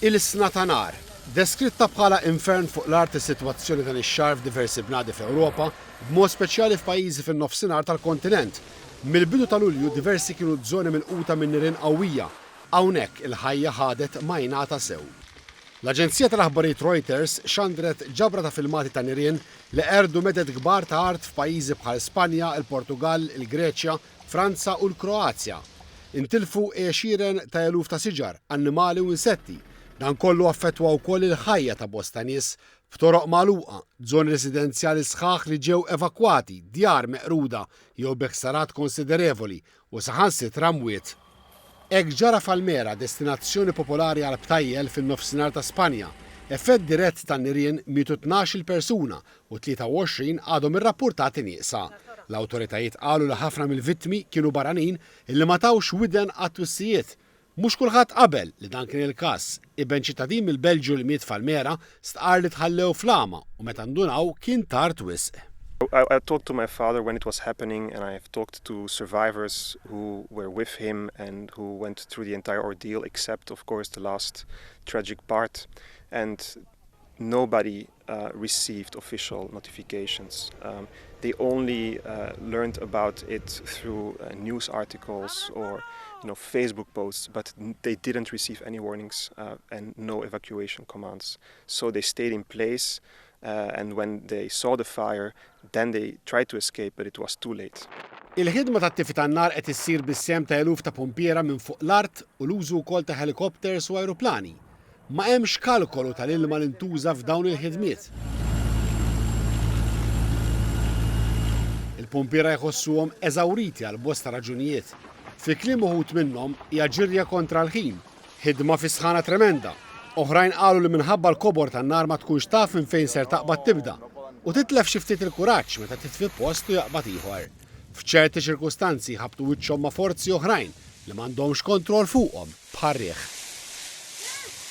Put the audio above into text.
Ilsna ta' nar. Deskritta bħala infern fuq l-art is-sitwazzjoni dan ix-xahar f'diversi bnadi fl-Ewropa, b'mod speċjali f'pajjiżi fin-Nofsinhar tal-kontinent. Mill-bidu ta' Lulju diversi kienu ż-żoni milquta minn nirien qawwija. Hawnhekk il-ħajja ħadet majnata sew. L-aġenzija tal-aħbarijiet Reuters xandret ġabra ta' filmati ta' nirien li qerdu meded kbar ta' art f'pajjiżi bħal Spanja, il-Portugall, il-Greċja, Franza u l-Kroazja, intilfu għexieren ta' eluf ta' siġar, annimali u insetti. Dan kollu affettwa wkoll il-ħajja ta' bosta nies, b'toroq magħluqa, zoni residenzjali sħaħ li ġew evakwati, djar meqruda jew bi ħsarat konsiderevoli u saħansitra mwiet. Hekk ġara f'Almera, destinazzjoni popolari għall-btajjel fin-Nofsinhar ta' Spanja. Effett dirett tan-nirien mietu tnax-il persuna u 23 għadhom irrappurtati nieqsa. L-awtoritajiet qalu li ħafna mill-vittmi kienu barranin illi ma tawx widen għat-twissijiet. Mhux kulħadd qabel li dan kien il-każ. Iben ċittadin mill-Belġju li miet f'Almera stqarr li tħallew fl-għama u meta ndunaw kien tard wisq. I talked to my father when it was happening and I have talked to survivors who were with him and who went through the entire ordeal except of course the last tragic part and nobody received official notifications. They only learned about it through news articles or you know, Facebook posts, but they didn't receive any warnings and no evacuation commands. So they stayed in place and when they saw the fire, then they tried to escape but it was too late. Il-ħidma ta' tifi tan-nar qed issir bis-sehem ta' eluf ta' pumpiera minn fuq l-art u l-użu wkoll ta' helicopters u ajruplani. Ma hemmx kalkolu tal-ilma li ntuża f'dawn il-ħidmiet. Il-pumpiera jħossuhom eżawriti għal bosta raġunijiet. Fi kliem uħud minnhom hija ġirja kontra l-ħin, ħidma fi sħana tremenda. Oħrajn qalu li minħabba l-kobor tan-nar ma tkunx taf minn fejn ser taqbad tibda u titlef xi ftit il-kuraġġ meta titfi post u jaqbad ieħor. F'ċerti ċirkustanzi jħabbtu wiċċhom ma' forzi oħrajn li m'għandhomx kontroll fuqhom, bħar-riħ.